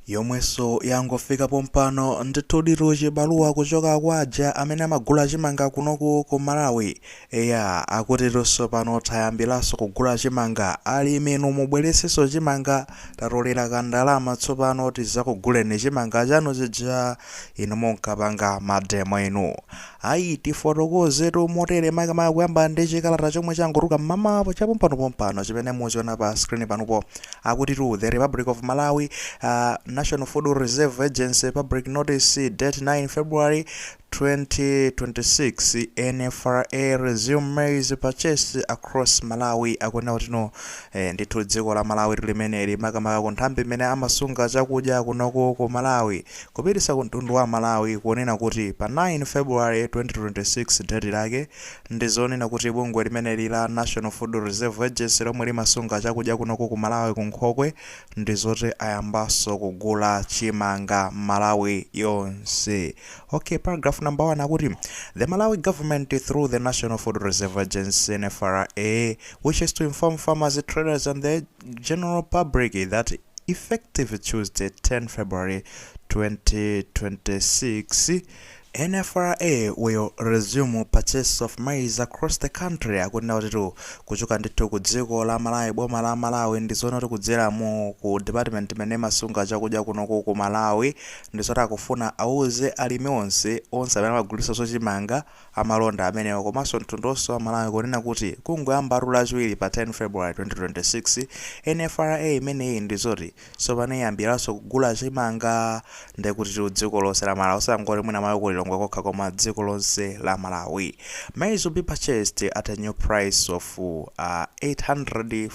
yomweso yangofika pompano ndithuditu chibaluwa kuchoka kwa aja amene amagula chimanga kunoku ku malawi eya akutitu tsopano tayambilaso kugula chimanga alimi inu mubweretsenso chimanga tatolera ka ndalama tsopano tizakuguleni chimanga chanu chija inu munkapanga mademo inu Ayi, tifotokozetu motere makamaka kuyamba ndi chikalata chomwe changotuluka m'mamawu chapompanopompano chimene muchiona pa screen panupo akutitu the Republic of Malawi uh, National Food Reserve Agency Public Notice date 9 February 2026 NFRA resume maize purchase across Malawi akunena kutino eh, ndithu dziko la Malawi limeneli makamaka ku nthambi imene amasunga chakudya kunoko ku Malawi Kupititsa ku mtundu wa Malawi kunena kuti pa 9 February 2026 deti lake ndi zonena kuti bungwe limeneli la National Food Reserve Agency lomwe limasunga chakudya kunoko ku Malawi ku nkhokwe ndi zoti ayambanso kugula chimanga Malawi yonse ok paragraph number 1 akuti The Malawi government through the National Food Reserve Agency NFRA wishes to inform farmers, traders and the. general public that effective Tuesday 10 February 2026, NFRA will resume purchase of maize across the country akunena kutitu kuchoka ndithu ku dziko la Malawi boma la Malawi ndi zonena kuti kudzera mu ku department imene imasunga chakudya kunoku ku Malawi ndi zoti akufuna auze alimi onse onse amene amagulitsa zochimanga amalonda amenewa komanso mtundu wonse wa Malawi kunena kuti kungoyambatu lachiwiri pa 10 February 2026 NFRA imeneyi ndizoti tsopano iyambiranso kugula chimanga ndekutitu dziko lonse la Malawi osangoti mwina mwake ku Lilongwe kokha koma dziko lonse la Malawi maize will be purchased at a new price of uh, 800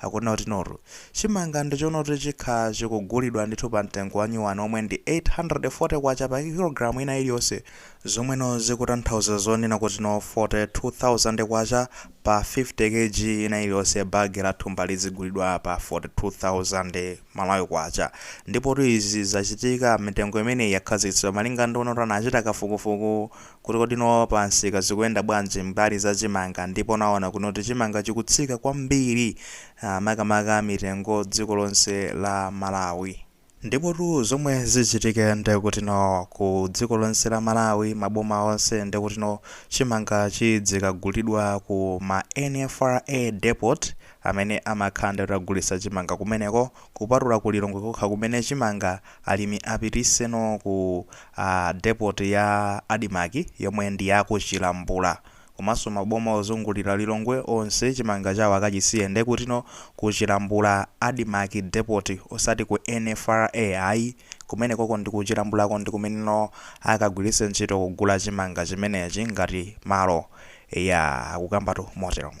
Akunena kutinotu, chimanga ndichoona kuti chikha chikugulidwa ndithu pa mtengo wa nyuwani womwe ndi K840 pa kilogalamu ina iliyonse, zomweno zikutanthauza zonena kutino K42,000 pa 50 Kg ina iliyonse, bag la thumba lidzigulidwa pa K42,000 Malawi, ndipotu izi zachitika, mitengo imeneyi yakhazikitsidwa malinga ndi kunenatu anachita kafukufuku kuti kodino pansika zikuyenda bwanji mbali za chimanga ndipo anaona kunena kuti chimanga chikutsika kwambiri ah, makamaka mitengo dziko lonse la malawi ndipotu zomwe zichitike ndekutino ku dziko lonse la malawi maboma onse ndekutino chimanga chidzikagulidwa ku ma nfra depot amene amakhala ndi kugulitsa chimanga kumeneko kupatula ku Lilongwe kokha kumene chimanga alimi apitiseno ku depot ya Admarc yomwe ndi ya ku Chilambula. Komanso maboma ozungulira Lilongwe onse chimanga chawo akachisiye ndekutino ku Chilambula Admarc depot osati ku NFRA ayi, kumenekoko ndi ku Chilambulako ndi kumeneno akagwiritse ntchito kugula chimanga chimenechi ngati malo. Eya, akukambatu moteromo.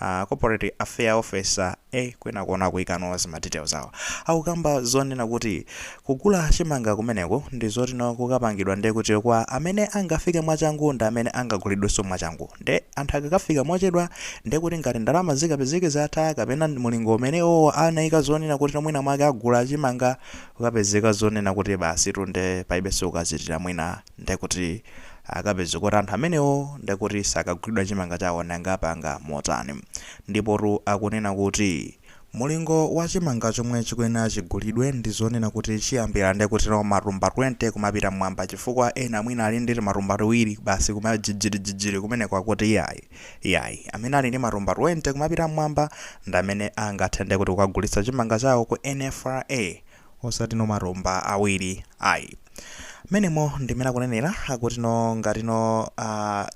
A corporate affair officer eh kwinaku akuikano zima details zawo. Akukamba zonena kuti kugula chimanga kumeneko ndi zoti no akukapangidwa nde kuti kwa amene angafike mwachangu ndi amene angagulidweso mwachangu. Nde anthu akakafika mochedwa nde kuti ngati ndalama zikapezeke zatha kapena mulingo umene iwowo anaika zonena kuti no mwina mwake agula chimanga kukapezeka zonena kuti basitu nde palibeso kuchitira mwina ndekuti akapeza kuti anthu amenewo ndekuti sakagulidwa chimanga chawo nanga apanga motani ndipotu akunena kuti mulingo wa chimanga chomwe chikuyenera chigulidwe ndi zonena kuti chiyambira ndekuti no matumba 20 kumapita mmwamba chifukwa ena mwina ali ndi timatumba tiwiri basi kumajijirijijiri kumeneko akuti iyayi iyayi amene ali ndi matumba 20 kumapita mmwamba ndamene angathe ndekuti kukagulitsa chimanga chawo ku NFRA osati no matumba awiri ayi mmenemo ndimene akunenera akuti no ngati no uh,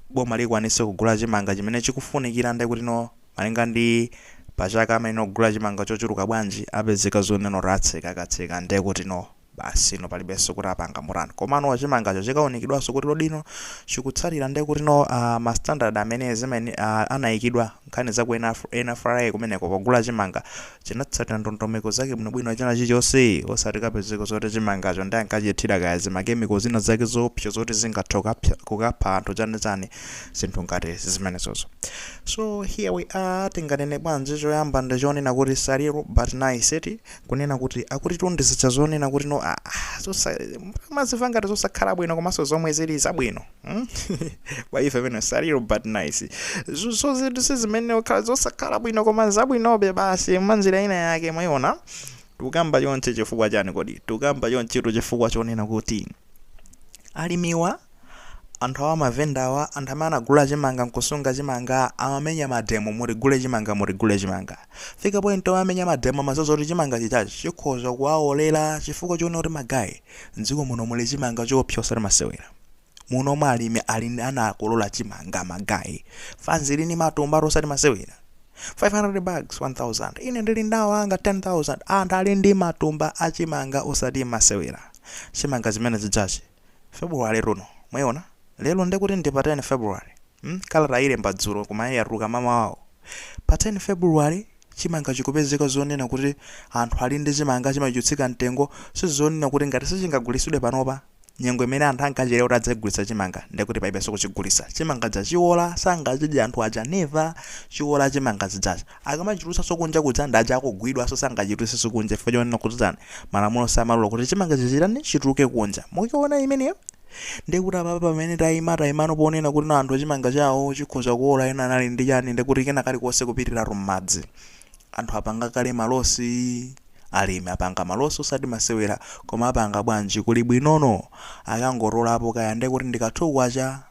boma likwanise kugula chimanga chimene chikufunikira nde kuti no malinga ndi pachaka chimene agula chimanga chochuluka bwanji apezeka zoneno atseka atseka nde kuti no basi no palibenso kuti apanga motani komano chimangacho chikaunikidwanso kuti kodi no chikutsatira nde kuti no uh, ma standard amene zimene uh, anayikidwa nkhani za ku NFRA kumeneko pogula chimanga chinatsatira ndondomeko zake bwinobwino china chilichonse osati kapezeka zoti chimangacho ndi ankachithira kaya zimakemiko zina zake zoopsa zoti zingathe kukapsa- kukapha anthu chanichani zinthu ngati zimenezozo so here we are tinganene bwanji choyamba ndi chonena kuti sad but nice eti kunena kuti akuti tanthauzo zonena kuti no ah, ah, zosa- mudziwa ngati zosakhala bwino komanso zomwe zili zabwino Hmm? kwa ife pena sad but nice Zo- so zinthu zimene zikhala zosakhala bwino koma zabwinobe basi mwanjira ina yake mwayiona tikukamba chonchi chifukwa chani kodi tikukamba chonchitu chifukwa chonena kuti alimiwa anthu awa mavendawa anthu amene anagula chimanga nkusunga chimanga amamenya mademo mutigule chimanga mutigule chimanga kufika point amamenya mademo amadziwa kuti chimanga chathuchi chikhoza kuwaolera chifukwa chonena kuti ma guy mdziko muno muli chimanga choopsa osati masewera muno mwa alimi anakolola chimanga magayi fanzi ili ndi matumbatu osati masewera 500 bags 1000 ine ndili ndawo anga 10000 anthu ali ndi matumba achimanga osati masewera chimanga chimenechijachi february uno mwayiona lero ndikuti ndi pa 10 february hmm? kalata yalembedwa dzulo koma yatuluka mmamawa uno pa 10 february chimanga chikupezeka zonena kuti anthu ali ndi chimanga chimatsika mtengo sizonena kuti ngati sichingagulitsidwe panopa Nyengo imene anthu ankatchera kuti adzagulitsa chimanga ndiye kuti palibenso kuchigulitsa. Chimanga chija chiola, sangachidye anthu aja never. Chiola chimanga chijacho. Akamachitulutsanso kunja kuja ndi uja akugwidwanso sangachitulutsenso kunja chifukwa chonena kuti chani, malamulo samalola kuti chimangachi chitani, chituluke kunja. Mukuona imeneyo? Ndiye kuti apapa pamene taima, taimano ponena kuti no anthu chimanga chawo chikhoza kuola, ena anali ndi chani, ndiye kuti kena kalikonse kupitiratu m'madzi. Anthu apanga kale malosi. Alimi apanga malosi osati masewera koma apanga bwanji kuli bwinono akangotolapo kaya nde kuti ndi ka two kwacha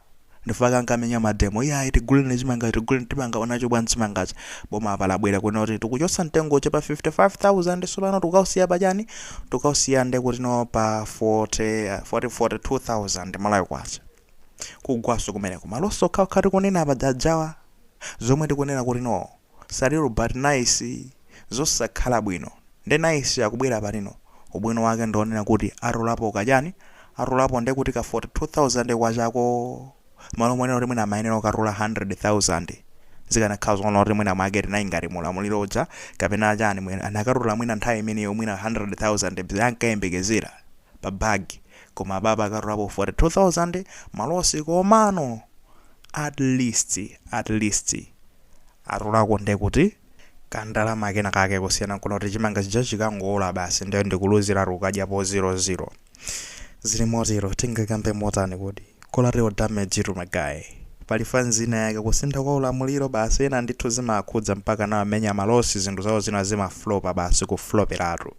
ndifukwa ankamenya mademo iyayi tigulireni chimangachi tiguleni tipanga nacho bwanji chimangachi boma apa labwera kunena kuti tikuchotsa mtengo uja pa 55000 sopano tikausiya pa chani tikausiya nde kuti no pa 40 42000 malawi kwacha kugwaso kumeneko malosi okhaokha tikunena paja jajawa zomwe tikunena kuti no sad but nice zosakhala bwino ndi nice akubwera pati no ubwino wake ndionena kuti atolapo kachani atolapo ndekuti ka 42000 kwachako malo moona kuti mwina amayenera kukatola 100000 zikanakhala zoona kuti mwina mwake tinayi ngati mulamuliro uja kapena achani mwina akanatola mwina nthawi imeneyo mwina 100000 zi ankayembekezera pa bagi Koma apapa akatolapo 42000 malosi komano at least at least atolako nde kuti ka ndalama kena kake kusiyana nkunena kuti chimanga chija chikangowola basi nde ndikuluziratu ukadyapo 00 zili motero tingakambe motani kuti collateral damage tu magayi pali fanzi ina yake kusintha kwa ulamuliro basi ena ndithu zimakhudza mpaka nawo amenya malosi zinthu zawo zina zimaflopa basi kufloperatu.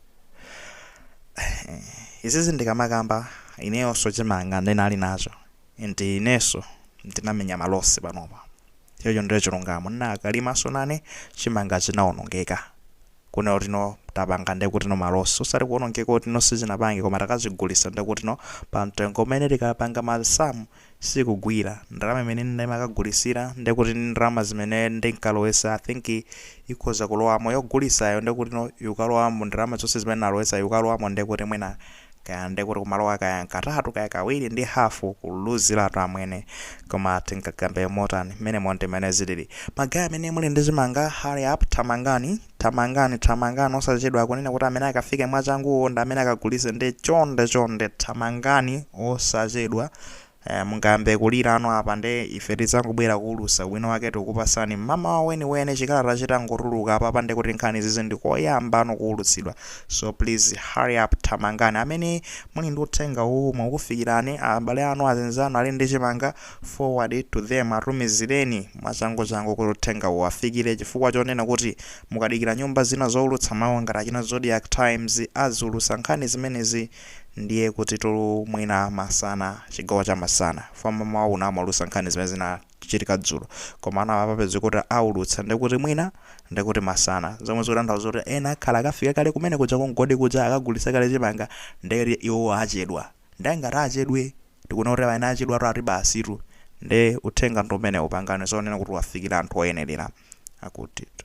izizi ndikamakamba ineyonso chimanga ndinali nacho ndi inenso ndinamenya malosi panopa chocho ndiye chilungamo ndinakalimaso nane chimanga chinawonongeka kunena kuti no tapanga ndiye kuti no malosi osati kuwonongeka kuti no sichinapange koma takachigulisa ndiye kuti no pa mtengo umene tikapanga masamu sikugwira. Ndalama imene ndimakagulitsira ndekuti ndalama zimene ndinkalowetsa I think ikhoza kulowamo yogulitsayo ndekuti no ikalowamo ndalama zonse zimene ndinalowetsa ikalowamo ndekuti mwina kaya ndekuti kumalowa kaya katatu kaya kawiri ndi half kuluziratu amwene koma tingakambe motani? Mmenemo ndi mmene zilili. Ma guy amene muli ndi chimanga hurry up thamangani. Thamangani, thamangani osachedwa akunena kuti amene akafike mwachanguwo ndi amene akagulitse nde chonde chonde thamangani osachedwa eh, mungayambe kulira ano apa nde ife tidzangobwera kuulusa ubwino wake tikukupasani mmamawa weniweni chikalata chitangotuluka apapa nde kuti nkhani zizi ndikoyamba kuulutsidwa so please hurry up thamangani amene muli ndi uthenga uwu ukukufikirani abale anu azinzanu ali ndi chimanga Forward it to them, Atumizireni mwachanguchangu kuti uthengawu uwafikire chifukwa chonena kuti mukadikira nyumba zina zoulutsa mawu ngati achina Zodiak Times aziulutsa nkhani zimenezi ndiye kutitu mwina masana, chigawo cha masana, fukwa mamawa uno amaulutsa nkhani zimene zinachitika dzulo koma ano apapa mpeze kuti aulutsa ndiye kuti mwina ndiye kuti masana zomwe zikutanthauza kuti ena akhala akafika kale kumene kuja ku mgodi kuja akagulitsa kale chimanga ndiye iwowo achedwa. Nde ngati achedwe tikuona kuti amene achedwatu ati basitu nde uthenga ndi umenewo panganani zonena kuti wafikira anthu oyenelera. Akutitu.